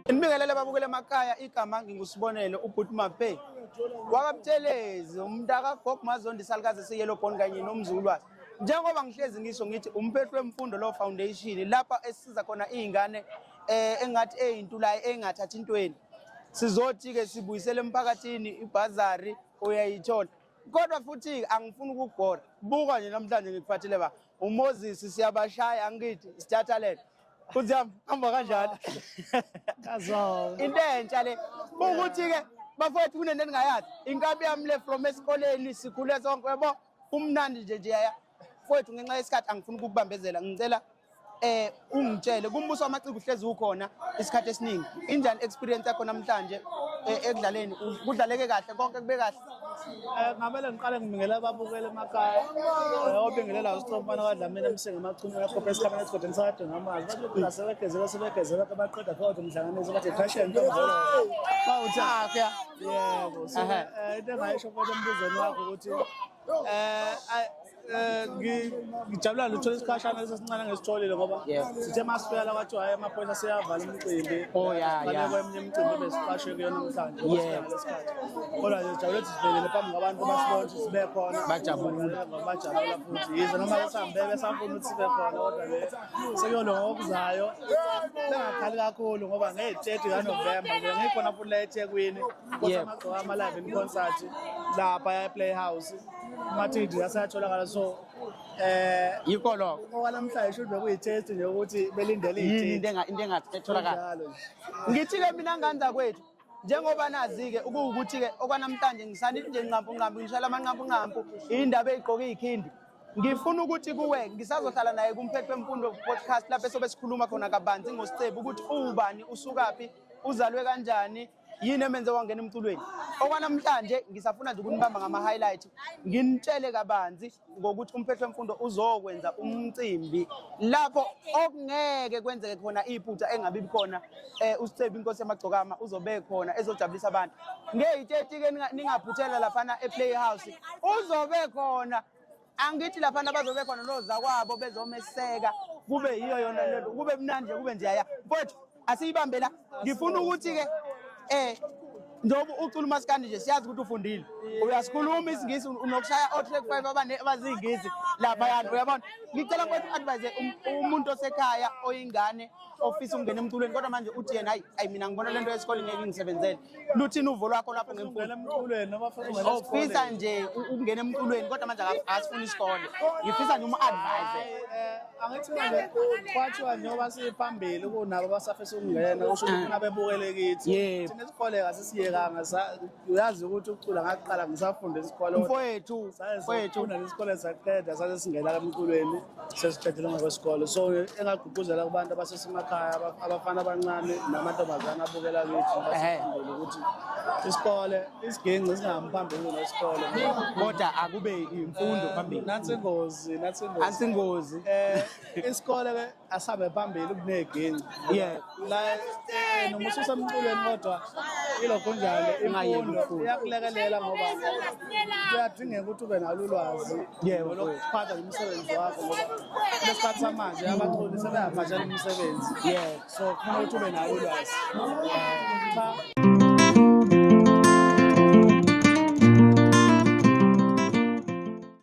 Nibingelele babukele emakhaya igama ngingusibonelo ubhuti Mape wakaButhelezi umntaka Gog Mazondi salukazi siyelo bond kanye nomzulwazi njengoba ngihlezi ngisho ngithi umphethu wemfundo lo foundation lapha esiza khona izingane eh engathi ezintulayo engathathi intweni sizothi ke sibuyisele emphakathini ibhazari uyayithola kodwa futhi angifuni ukugora buka nje namhlanje ngikuphathile ba umoses siyabashaya angithi sithathalele futhi yami hamba kanjalo into entsha le ukuthi-ke bafowethu kunento endingayazi inkabi yami le from esikoleni sikhule sonke yabo kumnandi nje nje yaya Mfowethu ngenxa yesikhathi angifuni ukukubambezela ngicela eh ungitshele kumbuso wamaciko uhlezi ukhona isikhathi esiningi injani experience yakho namhlanje eh, ekudlaleni kudlaleke kahle konke kube kahle eh, ngamele ngiqale ngibingelela ababukeli emakhaya eh, obingelela usitromfana kwadlamini emsinga amachumi akhopha esikhameni esigodini sakade ngamazi bathi lokhu nasebegezela sebegezela kabaqeda kodwa umhlanganiso bathi fashion ntombolo bawuthakya yebo so into engayisho kodwa embuzweni wakho ukuthi Eh, eh, ngijabula luthola isikhashana esesincane ngesitholile ngoba sithe masifika la kwathiwa hayi amaphoyisa seyavala umcimbi oh, baleko eminye imicimbi besiqashwe kuyona namhlanje kodwa nje sijabule ukuthi sivelele phambi kwabantu basibona ukuthi sibe khona bajabula bajabula futhi yize noma besambe besafuna ukuthi sibe khona kodwa le sekuyona ngokuzayo bengakhali kakhulu ngoba ngey'teti kanovemba nje ngikhona futhi la ethekwini Yep. Amagqoka ama-live in concert lapha e-playhouse ama-td asayatholakala so eh yikho lokho okwanamhlanje shuthi bekuyitest nje ukuthi belindele yini into enga- into engathi etholakala Kunjalo nje. ngithi-ke mina nganda kwethu njengoba nazi-ke ukuwukuthi-ke okwanamhlanje ngisanile nje nqampu nqampu ngishayela amanqampu nqampu iy'ndaba ey'gqoke iy'khindi ngifuna ukuthi kuwe ngisazohlala naye kumphetho wemfundo podcast lapho esobe sikhuluma khona kabanzi ngosicebu ukuthi uwubani usukaphi uzalwe kanjani yini emenze wangena emculweni okwanamhlanje ngisafuna nje ukunibamba ngama-highlight nginitshele kabanzi ngokuthi umphetho wemfundo uzokwenza umcimbi lapho okungeke kwenzeke khona iphutha engabi khona um eh, usicebi inkosi yamagcokama uzobe khona ezojabulisa abantu ngeyi-30-ke ningaphuthela laphana e-playhouse uzobe khona angithi laphana bazobe khona nozakwabo bezomeseka kube yiyo yona lento kube mnandi kube njaya mfowethu asiyibambe la ngifuna ukuthi-ke um njengoba ucula umasikandi nje siyazi ukuthi ufundile uyasikhuluma isingisi unokushaya o-track five abaziyingisi laphayana uyabona ngicela mfowethu u-advise um, umuntu osekhaya oyingane ofisa ukungena emculweni kodwa manje uthi yena hayi ayi mina ngibona le nto yesikole ngeke ngisebenzele luthini uvo lwakho lapho ngemfundo ufisa oh, nje ukungena emculweni kodwa manje asifuni isikole ngifisa nje umu-advise eh, angithi manje kwathiwa njengoba siphambili kunabo abasafisa ukungena usho ukuthi funa ah. bebukele kithi thina isikole kasisiyekanga uyazi ukuthi ukucula ngaqala ngisafunde isikole mfowethu mfowethu nesikole saqeda sase singena emculweni sesiqedile ngokwesikole so engagqugquzela kubantu abasesemakhaya abafana abancane namantombazane abukela kithi basifundele ukuthi isikole isiginci singahambi phambili nesikole kodwa akube imfundo eh, phambili nathi ingozi nathi ingozi anti ingozi eh isikole ke asabe phambili kuneginci yeah la eh, noma ususa emculweni kodwa ilokho njalo imfundo iyakulekelela ngoba kuyadingeka ukuthi ube nalo ulwazi yebo lokuphatha umsebenzi wakho ngoba lesikhathi samanje abaculi sebeyabhajela umsebenzi yebo so kufuna ukuthi ube nalo ulwazi cha